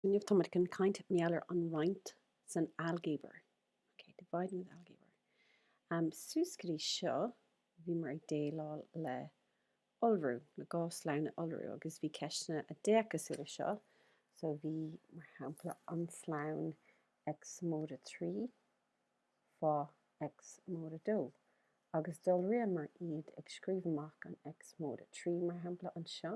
inniu táimid chun caint mar gheall ar an roinnt san ailgéabar. Ok, dividing with ailgéabar. Um, suas go dtí seo, bhíomar ag déileáil le iolrú, le dhá slonn a iolrú, agus bhí ceisteanna a d'fhéach cosúil le seo. So bhí, mar shampla, an slonn X móide 3 fá X móide 2, agus d'iolraíomar iad ag scríobh amach an X móide 3, mar shampla, anseo,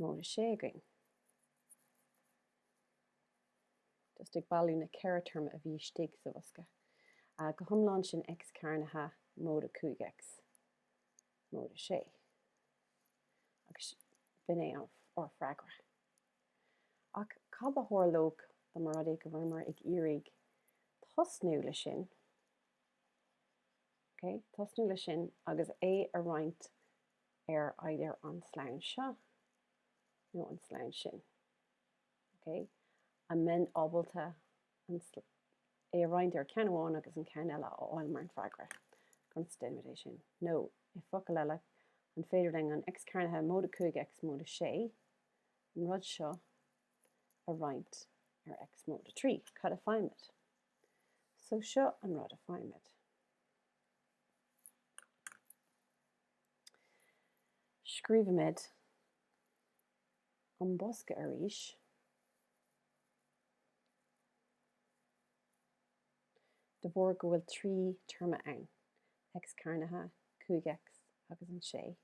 móide 6 againn. just ag bailiú na ceithre téarma a bhí istigh sa bhosca. Uh, go hiomlán sin x cearnaithe móide 5x móide 6. Agus b'in é ár freagra. Ach cad a tharlódh dá mba rud é go bhfuileamar ag iarraidh tosnú leis sin? tosnú leis sin agus é a roinnt ar either an slonn seo nó an slonn sin. An mbeinn ábalta é a roinnt ar ceann amháin agus an ceann eile a fháil mar an freagra? Conas a dhéanaimid é sin. Nó, i bhfocail eile, an féidir linn an X cearnaithe móide 5 X móide 6 an rud seo a roinnt ar X móide 3? Cad a faighimid? So seo an rud a faighimid. Scríobhaimid an bosca arís. De bharr go bhfuil trí téarma ann, X cearnaithe, 5X agus an 6.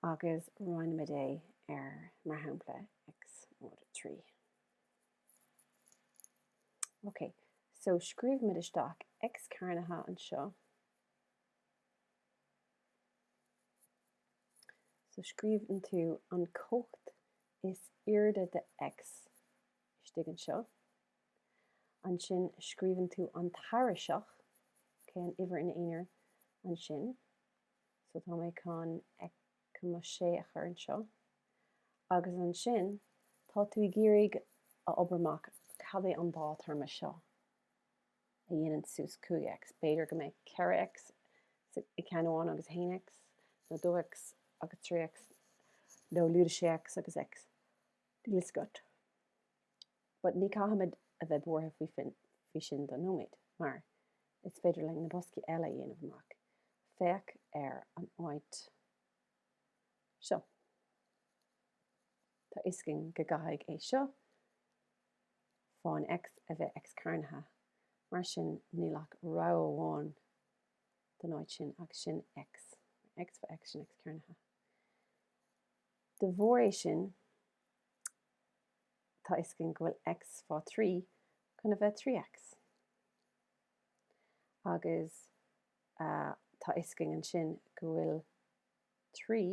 agus roinnimid é ar, mar shampla, X móide 3. Ok, so scríobhaimid isteach X cearnaithe anseo. So scríobhann tú an comhacht is airde de X istigh anseo. Ansin scríobhann tú an tairiseach, okay, an uimhir in aonar ansin. So tá mé chun mo 6 a chur anseo. Agus ansin tá tú ag iarraidh a obair amach cad é an dá théarma seo a dhéanann suas 5X. B'fhéidir go mbeidh 4X i ceann amháin agus 1X nó 2X agus 3X nó lúide 6X agus X. Níl fhios agat. But ní caithfimid a bheith buartha faoi sin don nóiméad, mar is féidir linn na boscaí eile a dhéanamh amach. Féach ar an áit seo. Tá fhios againn go gcaithfidh é seo fán X a bheith X cearnaithe, mar sin níl ach rogha amháin don áit sin agus sin X. X fá X sin X cearnaithe. De bharr é sin, tá fhios againn go bhfuil X fá thrí chun a bheith trí X. Agus tá fhios againn ansin go bhfuil trí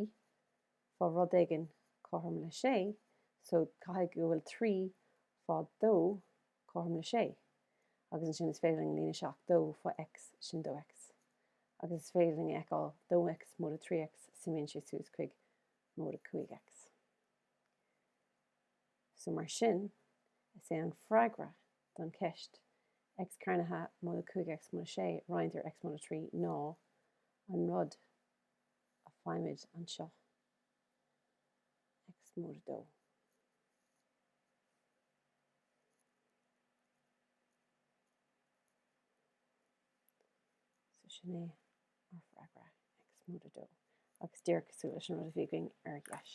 fá rud éigin cothrom le sé, so caithfidh go bhfuil trí fá dó cothrom le 6 agus ansin is féidir linn líonadh isteach dó fá X sin dó X agus is féidir linn a fheiceáil dó X móide 3 X suimíonn sé suas chuig móide 5 X. So mar sin, is é an freagra don cheist X cearnaithe móide 5 X móide 6 roinnte ar X móide 3 ná an rud a faighimid anseo. X móide dó. So sin é ár freagra X móide dó agus díreach cosúil leis an rud a bhí againn ar dheis.